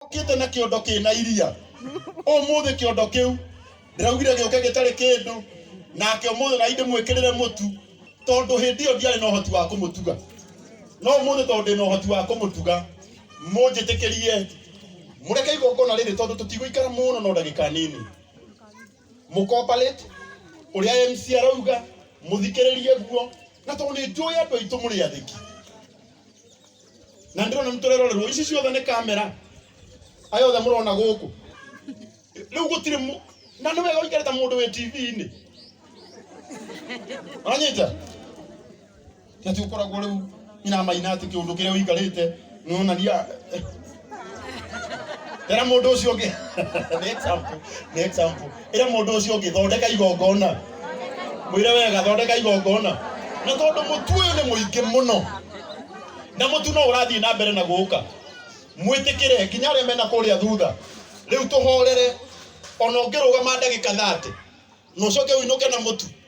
ũkĩte na kĩondo kĩna iria ũmũthĩ kĩondo kĩu ndĩraugire gĩũke gĩtarĩ kĩndũ nake ũmũthĩ na ndĩmwĩkĩrĩre mũtu tondũ hĩndĩ ĩyo ndiarĩ na ũhoti wa kũmũtuga no ũmũthĩ tondũ ndĩ na ũhoti wa kũmũtuga mũnjĩtĩkĩrie mũreke igongona rĩrĩ tondũ tũtigũikara mũno no ndagĩka nini mũkomparĩte ũrĩa MC arauga mũthikĩrĩrie guo na tondũ nĩ njũĩ andũ aitũ mũrĩ athĩki na ndĩrona nĩ tũrerorerwo ici ciothe nĩ kamera aya othe mũrona gũkũ rĩu gũtirĩ mũ- na nĩ wega ũikarĩte mũndũ wĩ tv-inĩ anyita ati ũkoragwo rĩu nyina maina atĩ kĩũndũ kĩrĩa ũikarĩte nĩonania ĩra mũndũ ũcio ũngĩ nĩ example nĩ example ĩra mũndũ ũcio ũngĩ thondeka igongona mwĩre wega thondeka igongona na tondũ mũtu ũyũ nĩ mũingĩ mũno na mũtu no ũrathiĩ na mbere na gũka mwĩtĩkĩre nginya arĩa mena kũrĩa thutha rĩu tũhorere ona ũngĩrũgama ndagĩka thate na ũcoke ũinũke na mũtu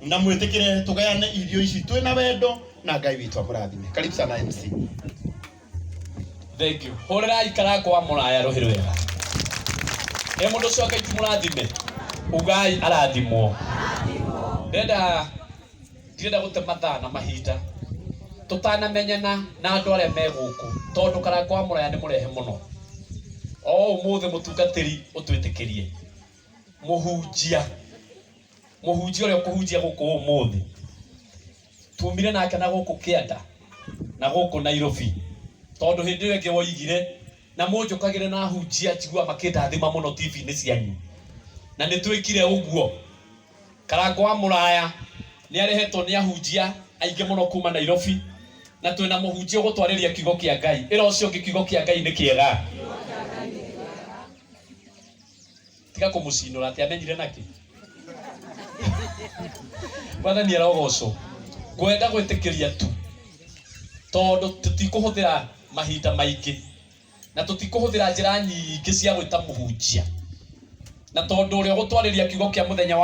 na mwĩtĩkĩre tũgayane irio ici twĩ na wendo na ngai witũ akũrathime karibu sana mc thank you hurira ikara kwa muraya ruhiru wega e mundu ucio ngai ti murathime ugai arathimwo ndenda ndirenda gute mathaa na mahinda tutanamenyana na andu aria me guku tondu kara kwa muraya ni murehe muno o umuthi mutungatiri utwitikirie muhunjia mũhunjia ũrĩa ũkũhunjia gũkũ ũmũthĩ tumire nake na gũkũ kĩanda na gũkũ nairobi tondũ hĩndĩ ĩyo ĩngĩ woigire na mũnjũkagĩre na hunjia njigua makĩndathima mũno tv-inĩ cianyu na nĩ twĩkire ũguo karango wa mũraya nĩ arehetwo nĩ ahunjia aingĩ mũno kuma nairobi na twĩna mũhunjia ũgũtwarĩria kiugo kĩa ngai ĩra ũcio ũngĩ kiugo kĩa ngai nĩ kĩega tiga kumucinura ati amenyire naki mwathani arogocwo ngwenda gwitikiria tu tondu tutikuhuthira mahinda maingi na tutikuhuthira njira nyingi cia gwita muhunjia na tondu uria ugutwariria kiugo kia muthenya wa